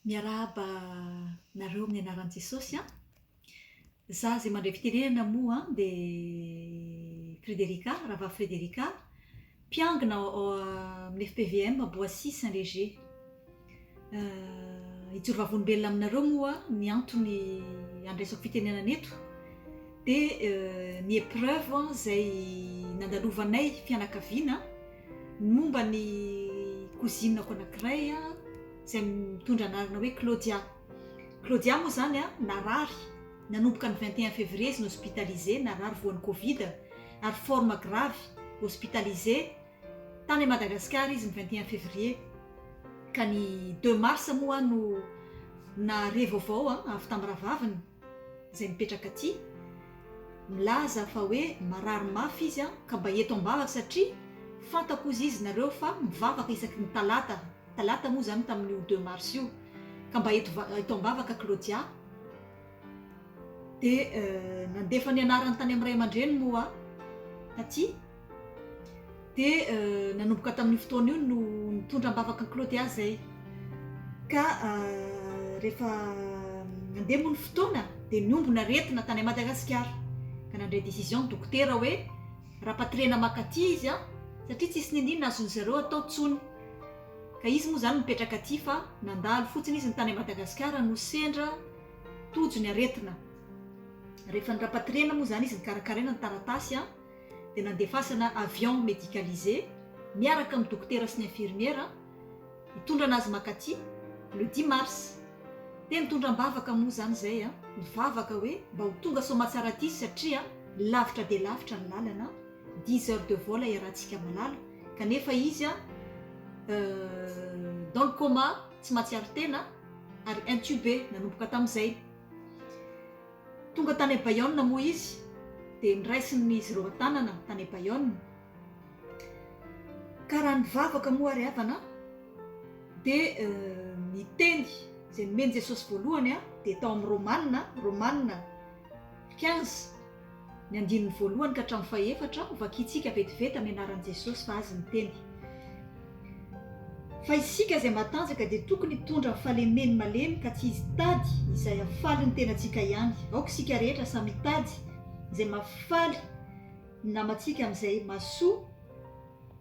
Miarahaba anareo amin'ny anaran'i Jesosy an! Za zay mandray fitenenana moa an dia Frederica, Ravavy Frederica, mpiangona ao amin'ny FPVM Boissy Saint Léger. Hijoro vavolombelona aminareo moa aho, ny antony handraisako fitenenana eto dia ny épreuve izay nandalovanay fianakaviana, Ny momba ny kozinako anankiray izay mitondra anarana hoe Claudia. Claudia moa izany narary nanomboka ny vingt et un février izy no hospitalisé, narary voan'ny covid ary forme grave, hospitalisé tany Madagasikara izy ny vingt et un février ka ny deux mars moa no nahare vaovao avy tamin'ny rahavaviny. izay mipetraka aty milaza fa hoe marary mafy izy an, ka mba eto ambavaka satria fantako ozy izy nareo fa mivavaka isaky ny talata, talata moa izany tamin'io deux mars io, ka mba eto eto ambavaka Claudia, dia nandefa ny anarany tany amin'ny ray aman-dreniny moa aho taty Dia nanomboka tamin'io fotoana io no nitondra am-bavaka an'i Claude ahy izay. Ka rehefa nandeha moa ny fotoana dia niombona aretina tany Madagasikara. Ka nandray décision ny dokotera hoe rapatrier-na maka aty izy an! satria tsisy niniana azon'ny zareo atao tsony. Ka izy moa izany mipetraka aty fa nandalo fotsiny izy ny tany Madagasikara no sendra tojo ny aretina. Rehefa ny rapatrier-na moa izany izy nikarakaraina ny taratasy an! dia nandefasana avion medicalisé miaraka amin'ny dokotera sy ny infirmiera hitondra an'azy mankaty le dix mars. Teny tondra am-bavaka moa izany izay an! Nivavaka hoe mba ho tonga soamatsara aty satria lavitra dia lavitra ny lalana, dix heures de vol iarahantsika malala, kanefa izy an! dans le coma tsy mahatsiaro tena ary intubé nanomboka tamin'izay. Tonga tany Abaionina moa izy, dia nraisiny izy ireo an-tanana tany Abaionina. Ka raha nivavaka moa ary havana an, dia ny teny izay nomen'i Jesosy voalohany dia tao amin'ny Romanina, Romanina quinze, Ny andininy voalohany ka hatramin'ny fahefatra, vakintsika vetivety amin'ny anaran'i Jesosy fa Azy miteny. Fa isika izay matanjaka dia tokony hitondra ny fahalemeny malemy ka tsy hitady izay hahafaly ny tenantsika ihany. Aoka isika rehetra samy hitady izay mahafaly ny namantsika amin'izay mahasoa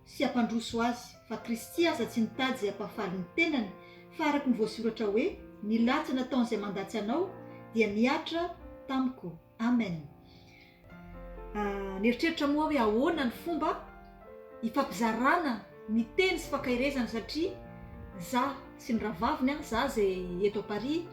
sy hampandroso azy. Fa Kristy aza tsy nitady izay hampahafaly ny tenany fa araka ny voasoratra hoe, Ny latsy nataon'izay mandatsy anao dia nihatra tamiko. Amen! Nieritreritra moa aho hoe ahoana ny fomba hifampizarana ny teny sy fankaherezana satria za sy ny rahavaviny an, za izay eto à Paris,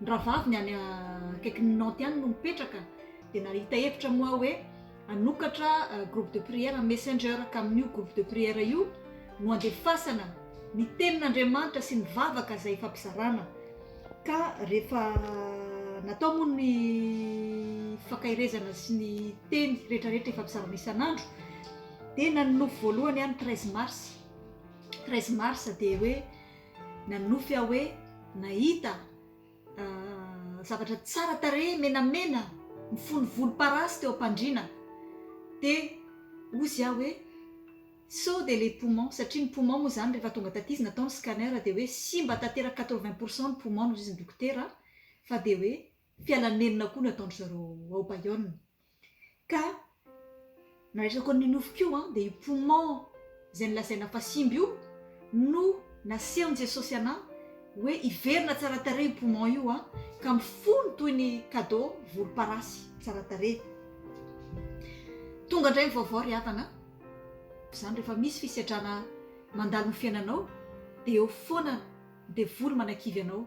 ny rahavaviny any akaikin'i Nantes any no mipetraka, dia nahita hevitra moa aho hoe hanokatra groupe de prière messenger ka amin'io groupe de prière io no andefasana ny tenin'Andriamanitra sy ny vavaka izay fampizarana ka rehefa natao moa ny fakairezana sy ny teny retraretra efa bizarana isan'andro dia nanonofy voalohany any treize mars treize mars dia hoe nanonofy aho hoe nahita zavatra tsara tarehy menamena mifono volomparasy teo am-pandriana dia hozy aho hoe sao dia les poumons satria ny poumons moa izany rehefa tonga taty izy natao ny scanner dia hoe simba tanteraka quatre vingt pour cent ny poumons hozy ny dokotera fa dia hoe fialan'ny nenina koa no ataon-dry zareo ao Bayonne Ka nandritra koa ny nofo koa dia io poumon izay nolazaina fa simba io no nasehon'i Jesosy anà hoe hiverina tsara tarehy io poumon io ka mifono toy ny kado volomparasy tsara tarehy. Tonga indray ny vaovao ry havana a! Izany rehefa misy fisedrana mandalo ny fiainanao dia eo foana Devoly manakivy anao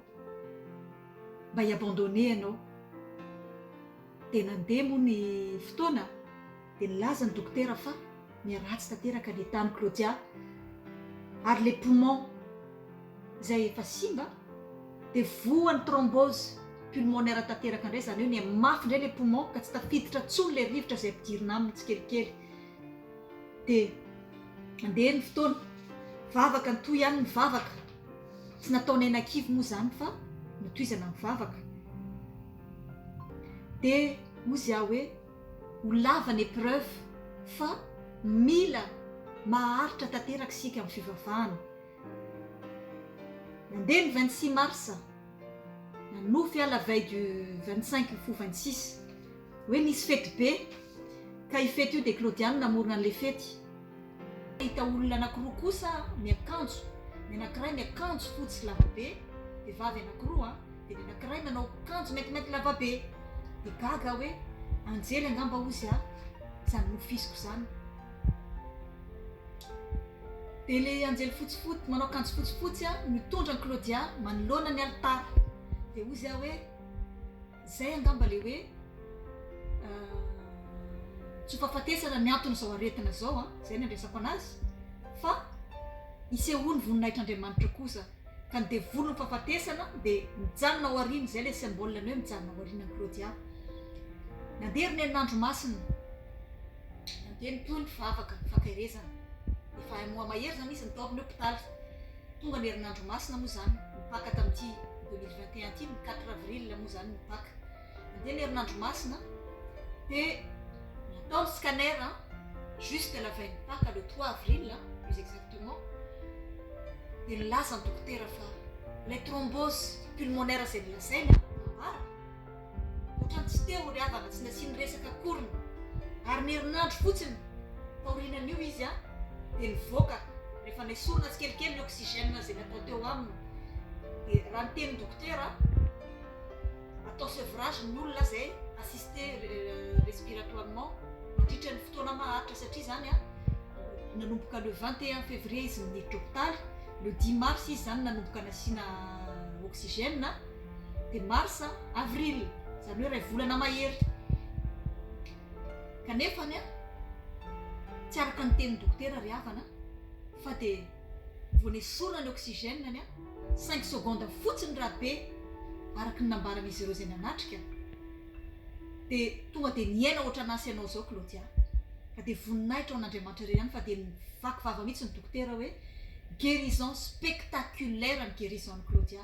mba hi abandonner ianao. Dia nandeha moa ny fotoana dia nilaza ny dokotera fa miharatsy tanteraka ny etat n'i Claudia ary ilay poumon izay efa simba dia voan'ny thrombose pulmonaire tanteraka indray izany hoe niha mafy indray ilay poumon ka tsy tafiditra intsony ilay rivotra izay ampidirina aminy tsikelikely. Dia andeha ny fotoana. Vavaka, nitohy ihany ny vavaka. Tsy nataonay nakivy moa izany fa notohizana ny vavaka. Dia hozy aho hoe, ho lava ny épreuve fa mila maharitra tanteraka isika amin'ny fivavahana. Nandeha ny vingt six mars, nanofy aho la veille du vingt cinq ho vingt six. Hoe nisy fety be, ka io fety io dia Claudia no namorona an'ilay fety. Nahita olona anankiroa kosa miakanjo, ny anankiray miakanjo fotsy lavabe, vehivavy anankiroa an, dia ny anankiray manao kanjo maintimainty lavabe, dia gaga aho hoe anjely angamba hozy an, izany nofiziko izany. Dia ilay anjely fotsifotsy, manao kanjo fotsifotsy an, mitondra an'i Claudia manoloana ny alitara, dia hozy aho hoe. Izay angamba ilay hoe tsy ho fahafatesana ny anton'izao aretina izao an, izay no andraisako anazy, fa isehoan'ny voninahitr'Andriamanitra kosa, ka ny devoly no fahafatesana dia mijanona ao aoriana, izay ilay symbole ny hoe mijanona ao aoriana ny Claudia. Nandeha ry Neny Andro Masina, nandeha ny toy ny vavaka ny fankaherezana, efa un mois mahery izany izy nitaovina eo hopitaly, Tonga ny herinandro masina moa izany ny Paka tamin'ity deux mille vingt et un ity, ny quatre avril moa izany ny Paka. Nandeha ny herinandro masina dia natao ny scanner juste la veille ny Paka, le trois avril plus exactement, dia nilaza ny dokotera fa ilay thrombose pulmonaire izay nolazaina, nambara, Ohatran'ny tsy teo ry havana tsy nasiany resaka akory ny ary ny herinandro fotsiny taorianan'io izy dia nivoaka rehefa nesorina tsikelikely ny oxygène izay natao teo aminy dia raha ny tenin'ny dokotera atao sevrage ny olona izay assisté respiratoirement mandritra ny fotoana maharitra satria izany a nanomboka le 21 février izy miditra hôpitaly le 10 mars izy izany nanomboka nasiana oxygène dia marsa, avril, izany hoe iray volana mahery. Kanefa anie, tsy araka ny tenin'ny dokotera ry havana fa dia vao nesorina ny oxygène anie, cinq secondes fotsiny raha be, araka ny nambaran'izy ireo izay nanatrika, dia tonga dia niaina ohatran'asa ianao izao Claudia. Ka dia voninahitra ho an'Andriamanitra irery ihany fa dia nivaky vava mihitsy ny dokotera hoe guérison spectaculaire ny guérison an'i Claudia.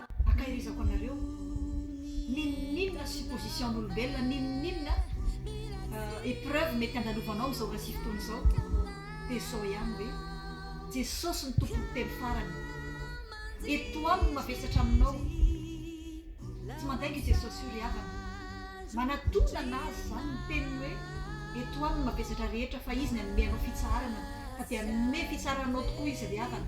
Ankahirizako anareo n'inon'inona supposition n'olombelona n'inon'inona epreuve mety andalovanao amin'izao ora sy fotoana izao dia izao ihany hoe Jesosy no tompon'ny telo farany eto aminy no mavesatra aminao tsy mandainga io Jesosy io ry havana manatonana azy izany ny teniny hoe eto aminy no mavesatra rehetra fa izy ny hanome anao fitsaharana fa dia hanome fitsaharana anao tokoa izy ry havana